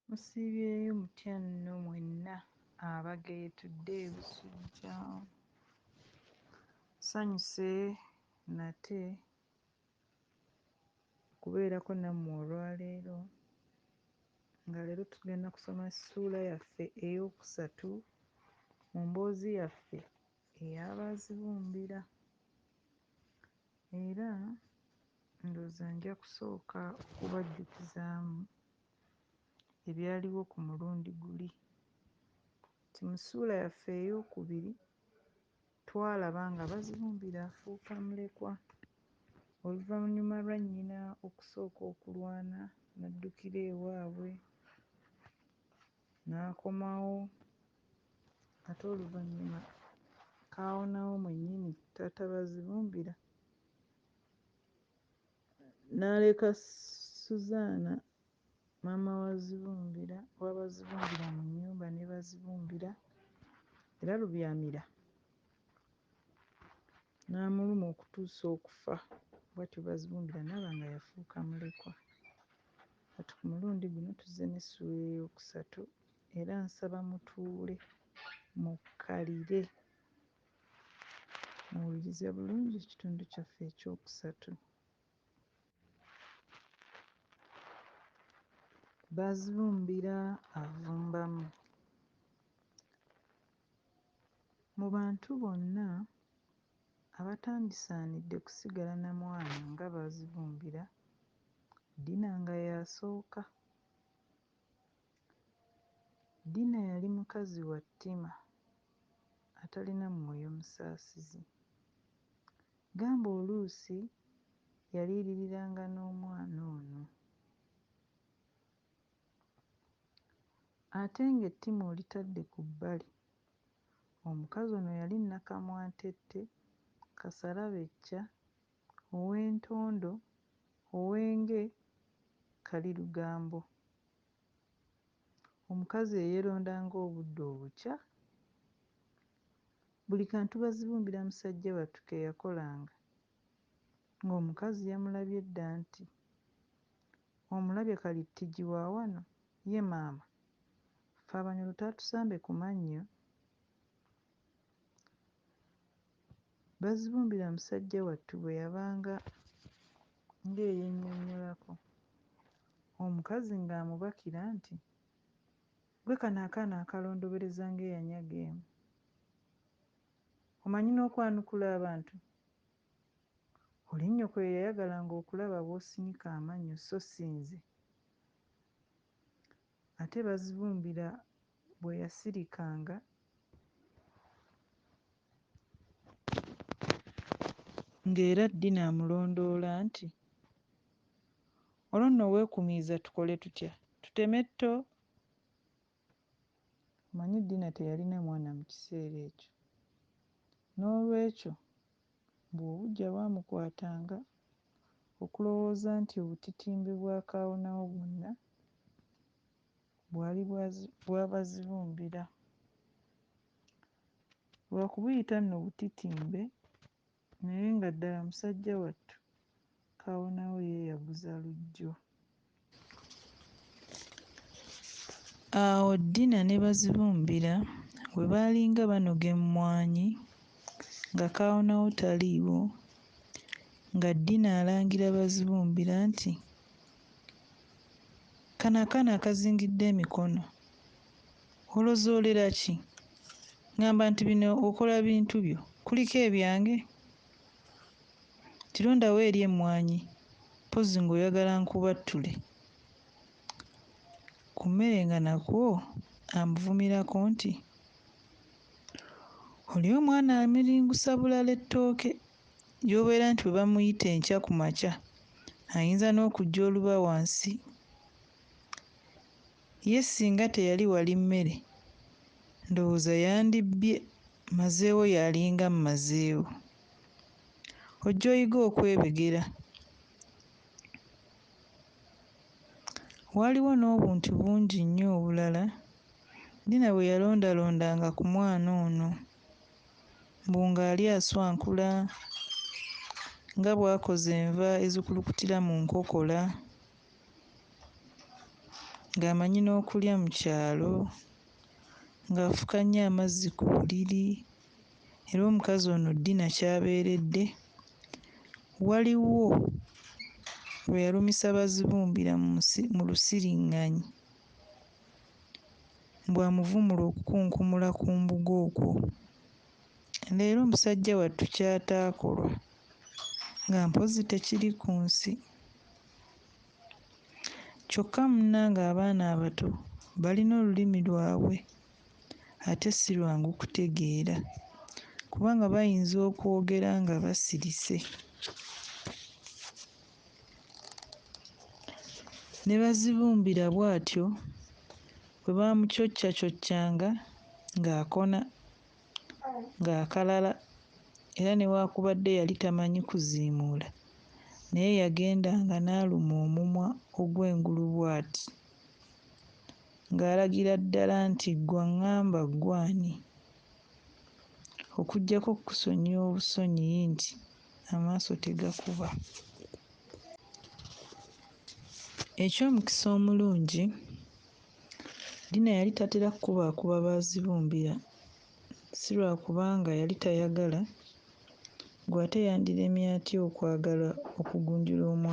Musiibyeyo mutya nno mwenna abageetudde e Busujja? Nsanyuse nate okubeerako nammwe olwaleero nga leero tugenda kusoma ssuula yaffe ey'okusatu mu mboozi yaffe eya Baazibumbira era ndowooza nja kusooka okubajjukizaamu. ebyaliwo ku mulundi guli nti mu ssuula yaffe eyookubiri twalaba nga Bazibumbira afuuka mulekwa oluvannyuma lwa nnyina okusooka okulwana n'addukira ewaabwe n'akomawo ate oluvannyuma kaawonawo mwennyini taata Bazibumbira n'aleka Suzaana maama wa Zibumbira wa Bazibumbira mu nnyumba ne Bazibumbira era Lubyamira n'amuluma okutuusa okufa bwatyo Bazibumbira n'aba nga yafuuka mulekwa. Kati ku mulundi guno tuzze n'essuula eyookusatu era nsaba mutuule mukkalire. Muwulirize bulungi ekitundu kyaffe eky'okusatu. Bazibumbira avumbamu. Mu bantu bonna abatandisaanidde kusigala na mwana nga Bazibumbira, Dina nga y'asooka. Dina yali mukazi wa ttima, atalina mwoyo musaasizi. Gamba oluusi yaliiriranga n'omwana ono. Ate ng'ettima olitadde ku bbali, omukazi ono yali nnakamwantette, kasarabecca, ow'entondo, ow'enge, kalirugambo. Omukazi eyeronda nga obudde obukya. Buli kantu bazibumbira musajja wattu ke yakolanga. Nga omukazi yamulabye dda nti, Omulabye kali ttigi wa wano? Ye maama! Ffe Abanyoro taatusambe ku mannyo. Bazibumbira musajja wattu bwe yabanga ng'eyennyonnyolako, omukazi ng'amubakira nti, Ggwe kano akaana akalondobereza ng'eyanyaga emu, omanyi n'okwanukula abantu? Oli nnyoko ye yayagalanga okulaba bw'osinika amannyo sso si nze. Ate Bazibumbira bwe yasirikanga ng'era Dina amulondoola nti, Olwo nno weekumiiza tukole tutya? Tuteme tto? Omanyi Dina teyalina mwana mu kiseera ekyo. N'olwekyo Mbu obuggya bwamukwatanga okulowooza nti obutitimbe bwa kaawonawo bwonna bwali bwabazibumbira. Lwa kubuyita nno butitimbe naye nga ddala musajja wattu Kawonawo ye yaguza Lujjo. Awo Dina ne Bazibumbira we baalinga banoga emmwanyi nga Kaawonawo taliiwo, nga Dina alangira Bazibumbira nti, Kano akaana akazingidde emikono olozoolera ki? Ngamba nti bino okola bintu byo, kuliko ebyange? Tirondawo eri emmwanyi mpozzi ng'oyagala nkubattule ku mmere nga nakwo amuvumirako nti, oli omwana amiringusa bulala ettooke ly'obeera nti bwe bamuyita enkya ku makya ayinza n'okujja oluba wansi. Ye singa teyali wali mmere ndowooza yandibbye mazeewo yalinga mmazeewo. Ojja oyige okwebegera. Waaliwo n'obuntu bungi nnyo obulala Dina bwe yalondalondanga ku mwana ono. Mbu ng'ali aswankula, nga bw'akoza enva ezikulukutira mu nkokola. ng'amanyi n'okulya mu kyalo ng'afukannye amazzi ku buliri era omukazi ono ddina ky'abeeredde. Waliwo lwe yalumisa Bazibumbira mu si mu lusiriŋŋanyi mbu amuvumule okukunkumula ku mbugo okwo. Leero musajja wattu ky'ataakolwa nga mpozzi tekiri ku nsi. Kyokka munnange abaana abato balina olulimi lwabwe ate si lwangu kutegeera kubanga bayinza okwogera nga basirise ne Bazibumbira bw'atyo bwe baamucoccacoccanga ng'akona. ng'akalala era newaakubadde yali tamanyi kuziimuula naye yagendanga n'aluma omumwa ogw'engulu bw'ati ng'alagira ddala nti, Ggwe ang'amba ggwe ani? Okuggyako okukusonyiwa obusonyiyi nti amaaso tegakuba. Eky'omukisa omulungi. Dina yali tatera kukubaakuba Baazibumbira, si lwa kubanga yali tayagala, ggwe ate yandiremye atya okwagala okugunjula omwana?